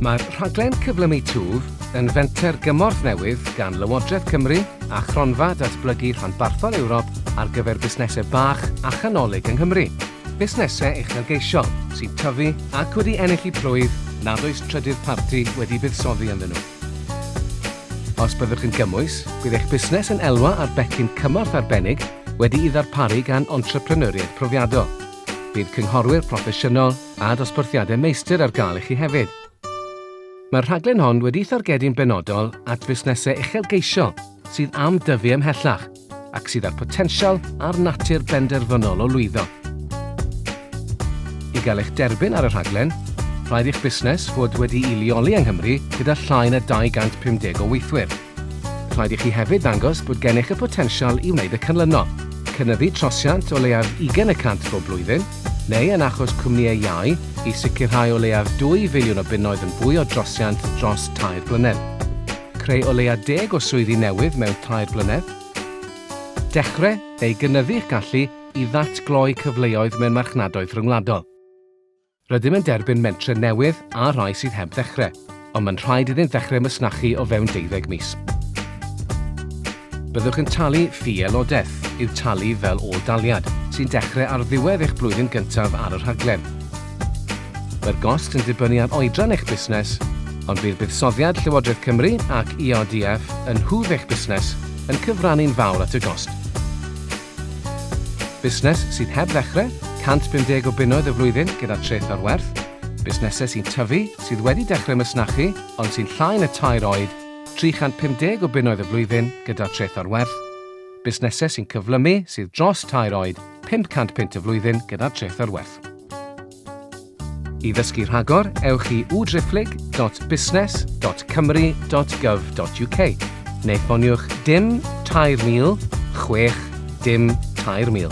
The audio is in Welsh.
Mae'r rhaglen Cyflymu Twf yn fenter gymorth newydd gan Lywodraeth Cymru a Chronfa Datblygu Rhanbarthol Ewrop ar gyfer busnesau bach a chanolig yng Nghymru. Busnesau uchelgeisiol sy'n tyfu ac wedi ennill y plwyf nad oes trydydd parti wedi buddsoddi ynddyn nhw. Os byddwch yn gymwys, bydd eich busnes yn elwa ar becyn cymorth arbennig wedi'i ddarparu gan entrepreneuriaid profiadol. Bydd cynghorwyr proffesiynol a dosbarthiadau meistr ar gael i chi hefyd. Mae'r rhaglen hon wedi'i thargedu'n benodol at fusnesau uchelgeisiol sydd am dyfu ymhellach, ac sydd â'r potensial a'r natur benderfynol o lwyddo. I gael eich derbyn ar y rhaglen, rhaid i'ch busnes fod wedi'i leoli yng Nghymru gyda llai na 250 o weithwyr. Rhaid i chi hefyd ddangos bod gennych y potensial i wneud y cynllunio, cynyddu trosiant o leiaf 20 y cant bob blwyddyn, neu yn achos cwmnïau iau, i sicrhau o leiaf 2 filiwn o bunnoedd yn fwy o drosiant dros tair blynedd. Creu o leiaf deg o swyddi newydd mewn tair blynedd. Dechrau neu gynyddu'ch gallu i ddatgloi cyfleoedd mewn marchnadoedd rhyngwladol. Rydym yn derbyn mentrau newydd a rhai sydd heb ddechrau, ond mae'n rhaid iddynt ddechrau masnachu o fewn deuddeg mis. Byddwch yn talu ffi aelodaeth, i'w talu fel ôl-daliad, sy'n dechrau ar ddiwedd eich blwyddyn gyntaf ar y rhaglen. Mae'r gost yn dibynnu ar oedran eich busnes, ond bydd buddsoddiad Llywodraeth Cymru ac ERDF yn nhwf eich busnes yn cyfrannu'n fawr at y gost. Busnes sydd heb ddechrau, 150 o bunnoedd y flwyddyn gyda treth ar werth, busnesau sy'n tyfu, sydd wedi dechrau masnachu ond sy'n llai na tair oed, 350 o bunnoedd y flwyddyn gyda treth ar werth, busnesau sy'n cyflymu sydd dros tair oed 500 punt y flwyddyn gyda treth ar werth. I ddysgu rhagor, ewch i www.business.cymru.gov.uk neu ffoniwch dim 3006 dim 3000.